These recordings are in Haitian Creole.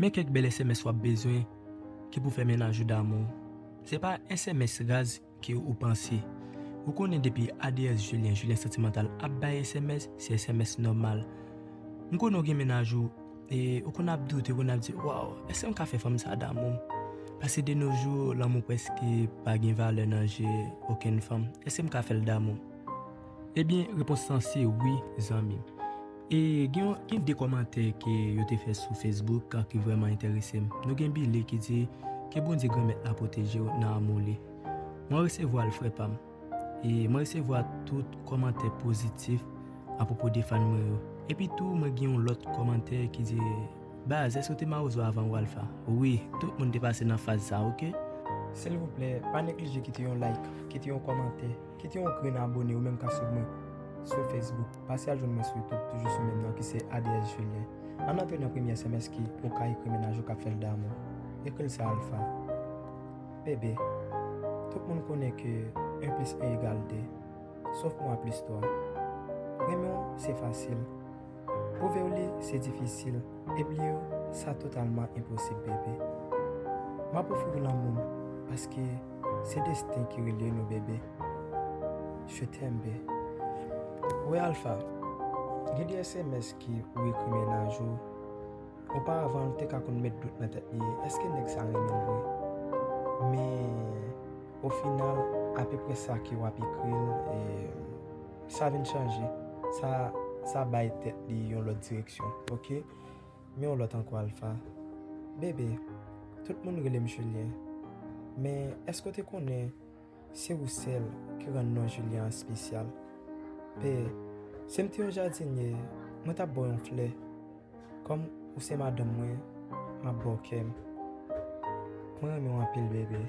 Men kèk bèl sms wap bezwen ki pou fè mennaj ou damou w. Se pa sms raz ke ou panse. Ou konnen depi ADS Julien Julien Santimantal ap bay sms, se sms nòmal. M konnen ou gen mennaj ou e ou konn ap doute, ou konn ap di waw èske m ka fè fanm sa damou m? Paske de no jou lanmou prèske pa gen valè nan je okenn fanm. Èske m ka fè l damou m? Ebyen repons lan se wi zanmi m. E gen gen 2 kòmantè ke yo te fè sou Facebook ki vrèman enterese m. Nou gen Billy ki di, Ke Bondye Granmèt la pwoteje w nan amou li. Mwen resevwa l frè pa m. E mwen resevwa tout kòmantè pozitif apwopo de fàn mwen yo. Epi tou mwen gen yon lòt kòmantè ki di, Baz, èske w te mawozo avan Walfa? Wi, tout moun te pase nan faz sa ok. Silvouplè, pa neglije kite yon like, kite yon kòmantè. Kite yon grenn abone ou menm kap swiv mwen sou Facebook. Pase al jwenn mwen sou YouTube toujou sou menm non ki se ADS Julien. Ann antre nan premye sms ki ou ka ekri mennaj ou kap fèl damou. Ekri l sa Alpha. BB, Tout moun konnen ke 1 plis 1 egal 2. Sof mwa plis 3. Renmen w se fasil. Pwouve w li se difisil e bliye w sa totalman enposib bebe M ap ofri w lanmou m paske se desten ki relye nou bebe Je t'aime be Wè Alpha, gen de sms ke ou ekri mennaj ou Oparavan l te ka konn met dout nan tèt li èske nèg sa renmen l vre Men o final apeprè sa ke w ap ekri l e Sa vin chanje. Sa sa bay tèt li yon lòt direksyon ok. Men yon lòt ankò Alpha. Bebe, tout moun rele m Julien. Men èske w te konnen se ou sèl ki rann non Julien an spesyal? P, Si m te yon jadinye, mwen t ap ba w yon flè. Kòm ou se madanm mwen map baw kèm Mwen renmen w anpil bebe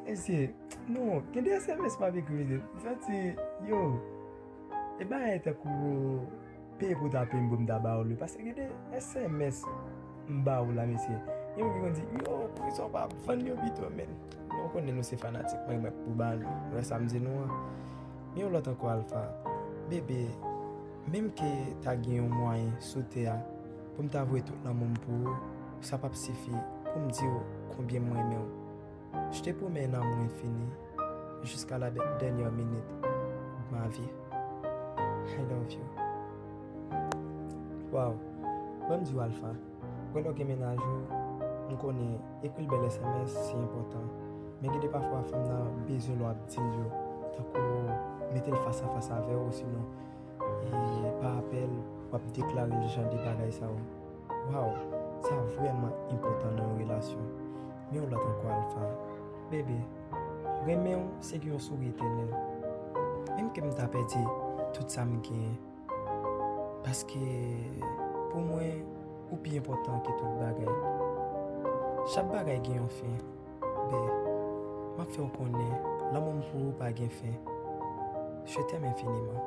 Mesye non gen de sms map ekri mesye m santi yo e bagay tankou peye pou w ta peyim pou m ta ba w li paske gen de sms m ba w la mesye gen moun ki konn di yo poukisa w pa vann yo pito men nou konnen nou se fanatik mwen mwen pou ba nou wè sa m di nou an gen yon lòt ankò Alpha bebe. Menm ke ta gen yon mwayen sou tè a pou m ta vwe tout lanmou m pou ou, sa p ap sifi pou m di ou konbyen m renmen ou. Je te promets un amour infini jusqu'à la dernière minute de ma vie. I love you. Waw, ban m di w Alpha, wè lè w gen mennaj ou, m konnen ekri l bèl sms se enpòtan, men gen de pafwa fanm nan bezwen lè w ap di l yo tankou mete l fas a fas avè w osinon Eee epa apèl wap deklare jan de bagay sa yo waw sa vrèman enpòtan nan yon relasyon men yon lòt ankò Alpha bebe renmenw se gen yon souri etènèl menm kem ta pèdi tout sam genyen paske pou mwen ou pi enpòtan ke tout bagay chak bagay gen yon fen. Be, map fè w konnen lanmou m pou ou pa gen fen Je t'aime infiniment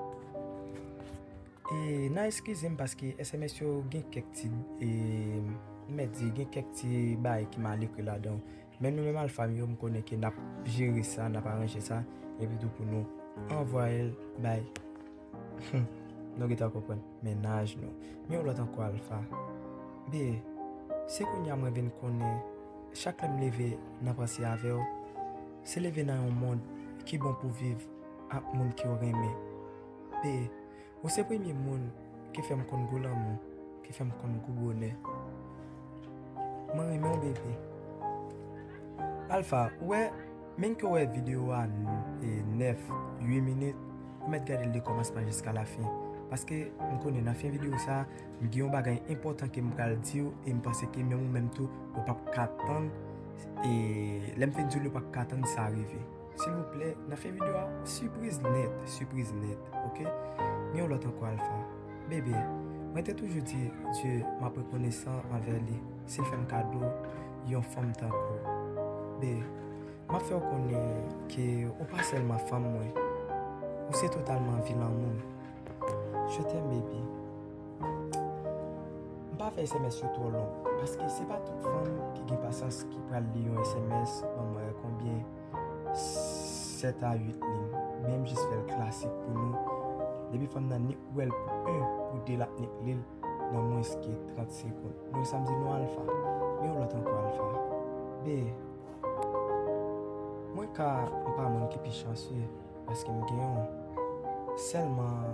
E nan eskize m paske sms yo gen kèk ti e m mèt di gen kèk ti bagay ki mal ekri ladan Men nou menm alfa m yo m konnen ke nap jere sa, nap aranje sa Epi tou pou nou anvwaye l bay Humm nou gentan konprann mennaj nou men yon lòt ankò Alpha Be se kounya mwen vin konnen chak lèm leve nan panse avèw se leve nan yon mond ki bon pou viv ak moun kew renmen Be ou se premye moun ki fèm konn gou lanmou ki fèm konn gou bonè mwen renmenw bebe Alpha ou wè Menn ke w wè video a 9, 8 minit, ou mèt gade l de kòmansman jiska lafen. Paske, m konnen nan fen video sa, m gen yon bagay enpòtan ke m pral di w e m panse ke menm ou menm tou, ou p ap ka tann e lè m fin di w ou p ap ka tann sa rive. Silvouplè, nan fen video a, sipriz nèt, sipriz nèt, ok? Gen yon lòt ankò Alpha. Bebe, mwen te toujou di Dye m ap rekonesan anvè li si l fè m kado. Yon fanm tankou w. Bae, m ap fè w konnen ke ou pa sèlman fanm mwen, ou se totalman vi lanmou m. Je t'aime baby. M pa fè sms yo twò long, paske se pa tout fanm ki gen pasyans ki pral li yon sms lonmwen konbyen 7 a 8 liy, men m jis fè l klasik pou nou. Depi fanm nan nik wè l pou 1, pou 2 l ap nik li l. nan mwens ke 30 sekond. Donk sa m di nou alfa. Men yon lòt ankò alfa. Be. Mwen ka m pa moun ki pi chansye paske m gen yon. Sèlman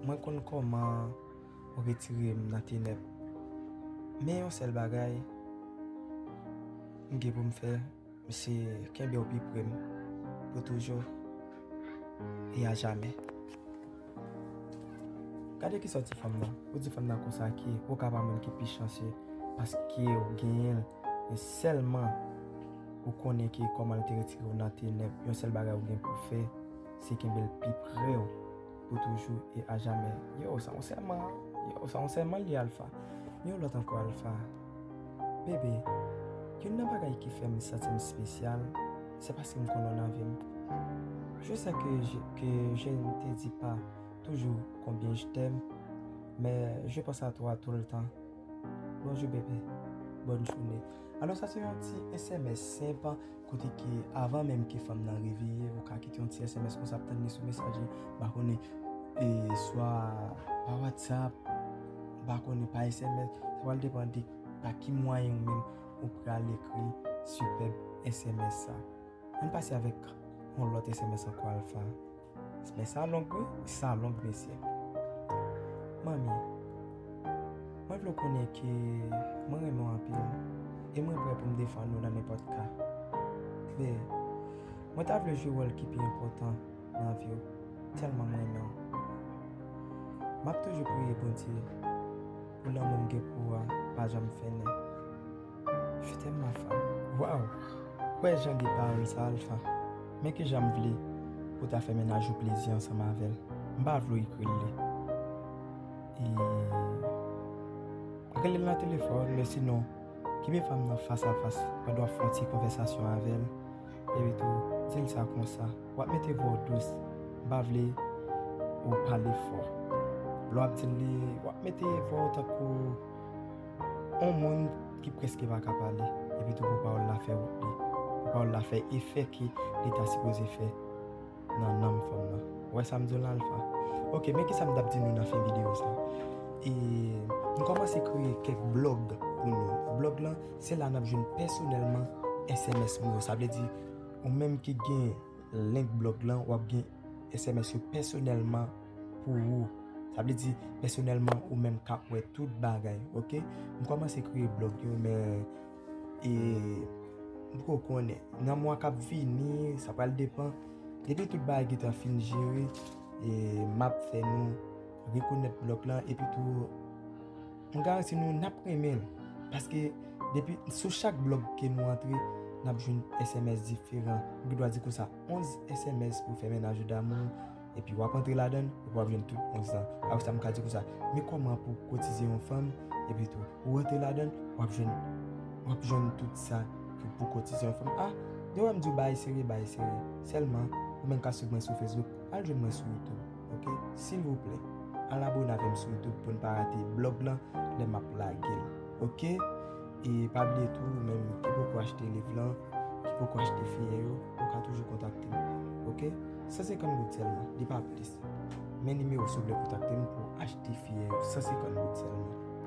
mwen konn kòman ou retire m nan tenèb. Men yon sèl bagay m gen pou m fè. Mesi kenbew pi prem pou toujou e a jamè. Gade kisa ou di fanm nan, ou di fanm nan konsa ki ou ka pa moun ki pi chanse paske ou genyenl e selman ou konnen ki komanl te retire ou nan tenèb yon sel bagay ou gen pou fè se kenbel pi prew. Pou toujou e a jamè. Yow sa yon sèman Yow sa yon sèman li Alpha Yon lòt ankò Alpha Bébé Youn nan bagay ki fè m santi m spesyal Se paske m konnen w nan vi m Je sais que que je ne te dis pas toujou konbyen je t'aime Men je pense à toi tout le temps Bonjou bébé Bòn joune Alò sa se yon ti sms senp Kote ke avan menm ke fanm nan reveye, ou ka kite yon ti sms konsa ap tann li sou mesaj li, mpa konnen e swa pa whatsapp, mpa konnen pa sms, sa pral depan de pa ki mwayen ou menm ou pral ekri sipèb sms sa. Ann pase avèk yon lòt sms ankò Alpha. Men sa long wi, sa long mesye. Manmi, mwen vle w konnen ke mwen renmen w anpil e mwen prè pou m defann ou nan nenpòt ka. Klè, mwen ta vle jwe wòl ki pi enpòtan nan vi w, tèlman m renmen w. M ap toujou priye Bondye pou lanmou m gen pou ou a pa janm fennen. Je t'aime ma femme Waw Wè jan de pawòl sa Alpha Men kijan m vle pou ta fè mennaj ou plezi ansanm avè l M pa vle w ekri l li E Rele l nan telefòn men sinon Kenbe fanm nan fas a fas pandan w ap fè yon ti konvèsasyon avè l Epitou di l sa konsa W ap mete vwa w dous M pa vle ou pale fò Lè w ap di l li w ap mete vwa w tankou On moun ki preske pa ka pale, epi tou pou pawòl la fè wout li, pou pawòl la fè efè ke li ta sipoze fè nan nanm fanm nan. Ou wè sa m di w la Alpha? Ok, men kisa m t ap di nou nan fen videyo sa. E, m kòmanse kreye kèk blòg pou nou. Blòg lan, se la n ap jwenn pèsonèlman sms mwen yo. Sa vle di, ou menm ki gen link blòg lan, w ap gen sms yo pèsonèlman. pou ou sa vle di pèsonèlman ou menm kap wè tout bagay ok m kòmanse kreye blòg yo men e m poko konnen nan mwa kap vini sa pral depan depi tout bagay gentan fin jere e map fè nou rekonèt blòg lan epi tou m garanti nou nap renmenl paske depi sou chak blòg ke nou antre nap jwenn sms diferan m gen dwa di konsa 11 sms pou fè mennaj ou damou. Epi wap antre ladann, epi wap jwenn tout moun sa. Apre sa m ka di konsa, men kòman pou kotize yon fanm, epi tou ou rantre ladann, wap jwenn wap jwenn tout sa ki pou kotize yon fanm. A, lè wè m di w bagay serye, bagay serye. Sèlman, ou menm k ap swiv mwen sou Facebook, al jwenn mwen sou YouTube, ok? Silvouplè, al abone avè m sou YouTube pou n pa rate blòg lan lè m ap lage l, ok? E pa bliye tou ou menm ki poko achte liv lan, ki poko achte fiyè yo, ou ka toujou kontakte m. Ok? 150 goud sèlman, li pa plis. Men nimewo si w vle kontakte m pou achte fiyè yo, 150 goud sèlman.